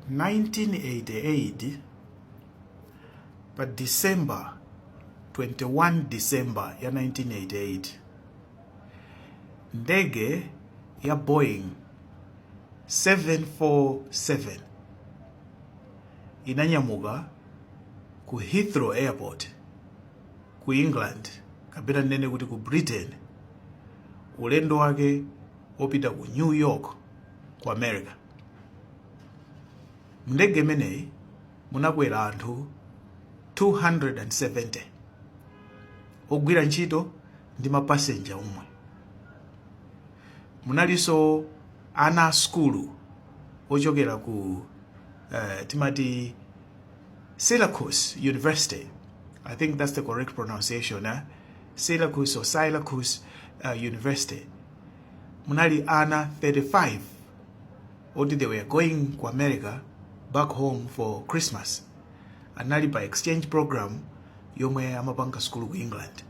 1988 pa december 21 december ya 1988 ndege ya boeing 747 inanyamuka ku heathrow airport ku england kapena tinene kuti ku britain ulendo wake wopita ku New York ku America. Mndege imeneyi munakwera anthu 270 ogwira ntchito ndi mapasenja omwe. Munalinso ana a sukulu ochokera ku eh, timati Syracuse University, I think that's the correct pronunciation, eh? Syracuse or Syracuse uh, University. Munali ana 35 oti they were going ku America back home for Christmas. Anali pa exchange program yomwe amapanga school ku England.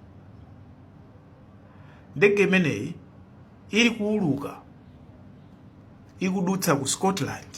Ndege imeneyi ili kuuluka ikudutsa ku Scotland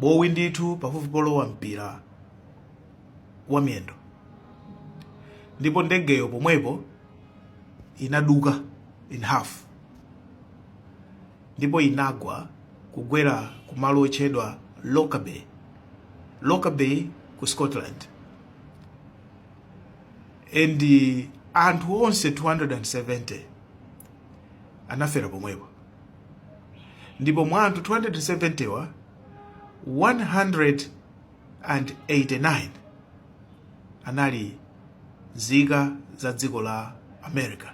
bowi ndithu pafupi polowa mpira wa miyendo ndipo ndegeyo pomwepo inaduka in half ndipo inagwa kugwera kumalo otchedwa Lockerbie Lockerbie ku Scotland and anthu onse 270 anafera pomwepo ndipo mwa anthu 270wa 189 anali nzika za dziko la america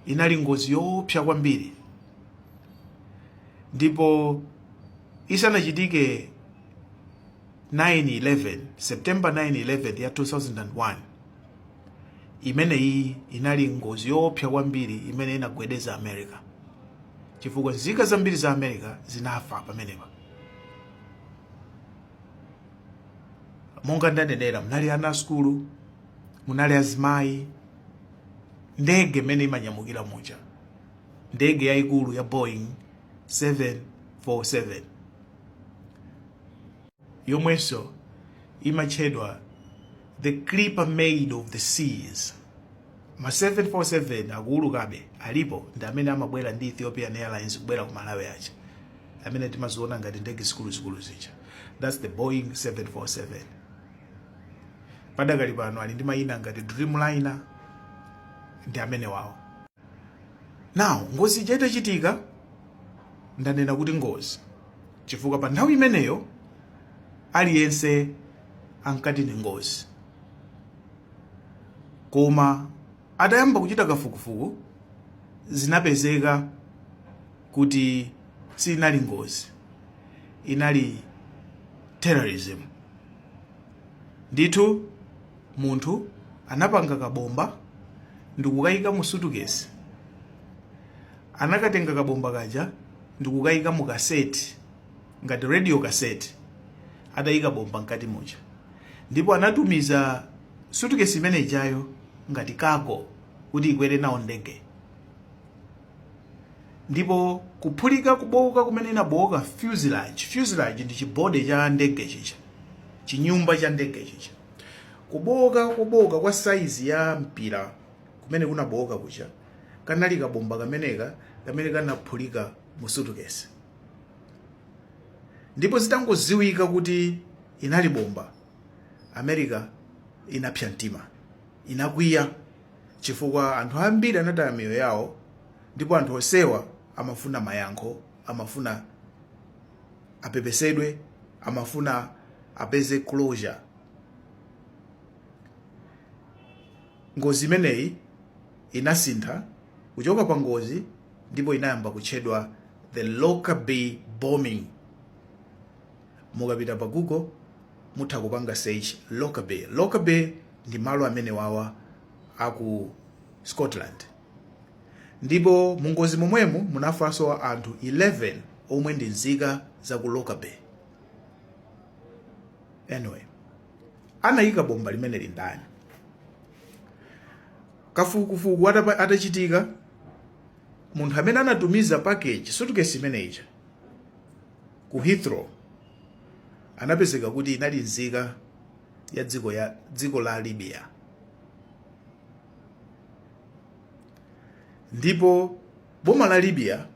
inali ngozi yoopsa kwambiri ndipo isanachitike 911 September 911 ya 2001 imeneyi inali ngozi yoopsa kwambiri imene inagwedeza America chifukwa nzika zambiri za America zinafa pamenepa monga ndanenera munali ana a sukulu munali azimayi ndege mmene imanyamukira muja ndege yayikulu ya Boeing 747 yomwenso imatchedwa the clipper maid of the seas ma 747 akuulukabe alipo ndi amene amabwera ndi ethiopian airlines kubwera ku malawi aja amene timaziona ngati ndege zikuluzikulu zija thats the boeing 747 padakali pano ali ndi mayina ngati dreamliner ndi amene wawo now ngozi ija itachitika ndanena kuti ngozi chifukwa pa nthawi imeneyo aliyense ankati ndi ngozi koma atayamba kuchita kafukufuku zinapezeka kuti sinali ngozi inali terrorism ndithu munthu anapanga kabomba ndikukayika mu sutukesi anakatenga kabomba kaja ndikukayika mu kaseti ngati radio kaseti atayika bomba mkati muja ndipo anatumiza sutukesi imene ijayo ngati cargo kuti ikwere nawo ndege ndipo kuphulika kubowoka kumene inabowoka fuselage fuselage ndi chibode cha ndege chija chinyumba cha ndege chija kubowoka kubowoka kwa saizi ya mpira kumene kunabowoka kuja kanali kabomba kameneka kamene kanaphulika mu sutukesi ndipo zitangoziwika kuti inali bomba america inapsa mtima inakwiya chifukwa anthu ambiri anataya miyoyo yawo ndipo anthu onsewa amafuna mayankho amafuna apepesedwe amafuna apeze closure Ngozi imeneyi inasintha kuchoka pa ngozi ndipo inayamba kutchedwa The Lockerbie Bombing. Mukapita pa Google mutha kupanga search Lockerbie. Lockerbie ndi malo amenewawa a ku Scotland. Ndipo mu ngozi momwemu munafanso anthu 11 omwe ndi nzika za ku Lockerbie. Anyway. anayika bomba limeneli ndani kafukufuku atachitika munthu amene anatumiza package sutukesi imene ija ku heathrow anapezeka kuti inali nzika ya dziko la libya ndipo Boma la Libya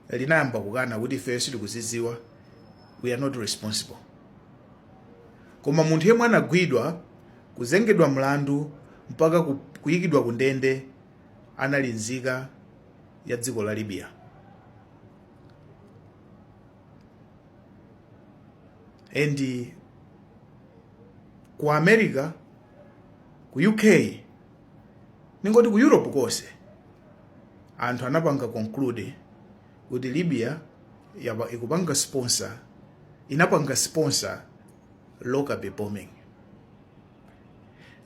linayamba kukana kuti ifeyo sitikuzidziwa, we are not responsible. Koma munthu yemwe anagwidwa, kuzengedwa mlandu mpaka kuyikidwa ku ndende anali nzika ya dziko la Libya. And ku America, ku UK ningoti ku europe konse anthu anapanga conclude kuti libya inapanga sponsor lockerbie bombing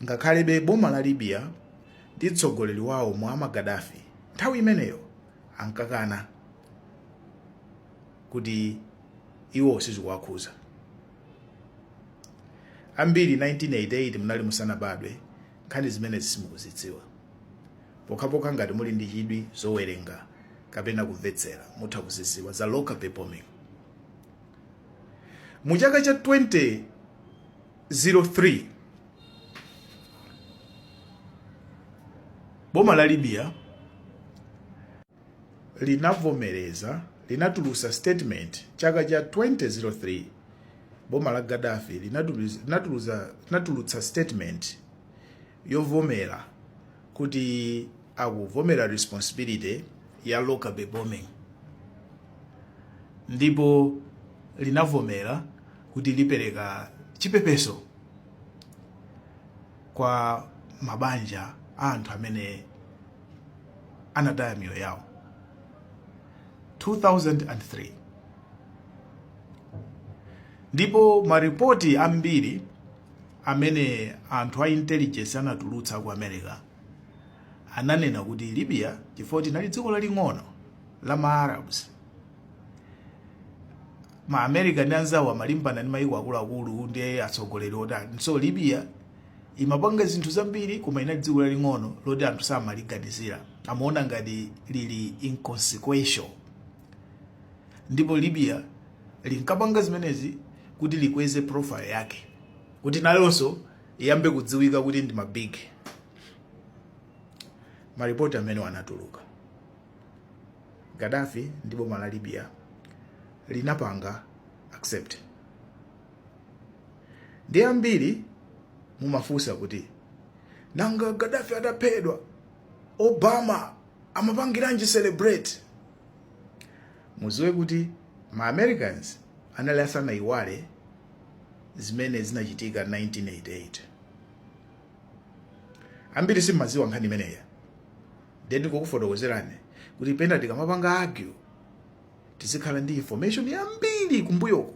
ngakhalebe boma la libya ndi mtsogoleri wawo muammar gaddafi nthawi imeneyo ankakana kuti iwo sizikuwakhuza ambiri 1988 munali musanabadwe Nkhani zimenezi simukuzidziwa? Pokhapokha ngati muli ndi chidwi zowerenga kapena kumvetsera mutha kuzidziwa za Lockerbie bombing. Mu chaka cha 2003 boma la Libya linavomereza linatulutsa statement chaka cha 2003 boma la gaddafi linatulutsa statement yovomera kuti akuvomera responsibility ya lockerbie bombing ndipo linavomera kuti lipereka chipepeso kwa mabanja a anthu amene anataya miyoyo yawo 2003 ndipo maripoti ambiri amene anthu a intelligence anatulutsa ku america ananena kuti libya chifukwa inali dziko laling'ono la ma arabs ma america ndi anzawo amalimbana ndi mayiko akuluakulu ndi atsogoleri otani so libya imapanga zinthu zambiri koma inali dziko laling'ono loti anthu samaliganizira amaona ngati lili inconsequential ndipo libya linkapanga zimenezi kuti likweze profile yake kuti nalonso iyambe kudziwika kuti ndi mabig maripoti amene anatuluka Gaddafi ndi boma la Libya linapanga accept. Ndiye ambiri mumafunsa kuti nanga Gaddafi ataphedwa Obama amapangiranji celebrate? Muziwe kuti ma Americans anali asanaiwale zimene zinachitika 1988. Ambiri simumaziwa nkhani imeneyi. Ndiye ndingokufotokozerani kuti pena tikamapanga argue tizikhala ndi information yambiri kumbuyoko.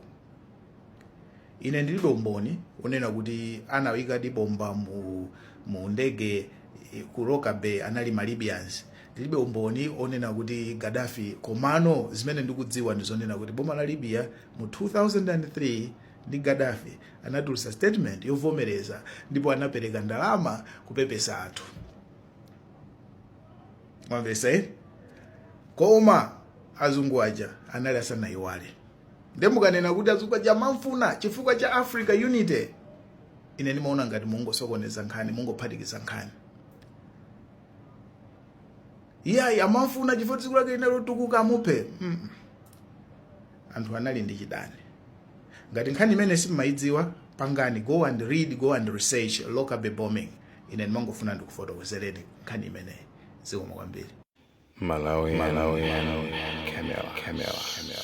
Ine ndilibe umboni onena kuti anaikadi bomba mu, mu ndege eh, ku Lockerbie anali ma Libyans. Ndilibe umboni onena kuti Gaddafi komano zimene ndikudziwa ndi zonena kuti boma la Libya mu 2003 ndi Gaddafi anatulutsa statement yovomereza ndipo anapereka ndalama kupepesa anthu. mwamvesa eh? koma azungu aja anali asanayiwale nde mukanena kuti azungu aja amamfuna chifukwa cha africa unity ine ndimaona ngati mungosokoneza nkhani mungophatikiza nkhani iyayi amamfuna chifukwa dziko lake linali lotukuka amuphe mm -mm. anthu anali ndi chidani ngati nkhani imene simumayidziwa pangani go and read go and research lockerbie bombing ine ndimangofuna ndikufotokozereni nkhani imeneyi zikomo kwambiri Malawi, Malawi, Malawi, Camera, Camera, Camera.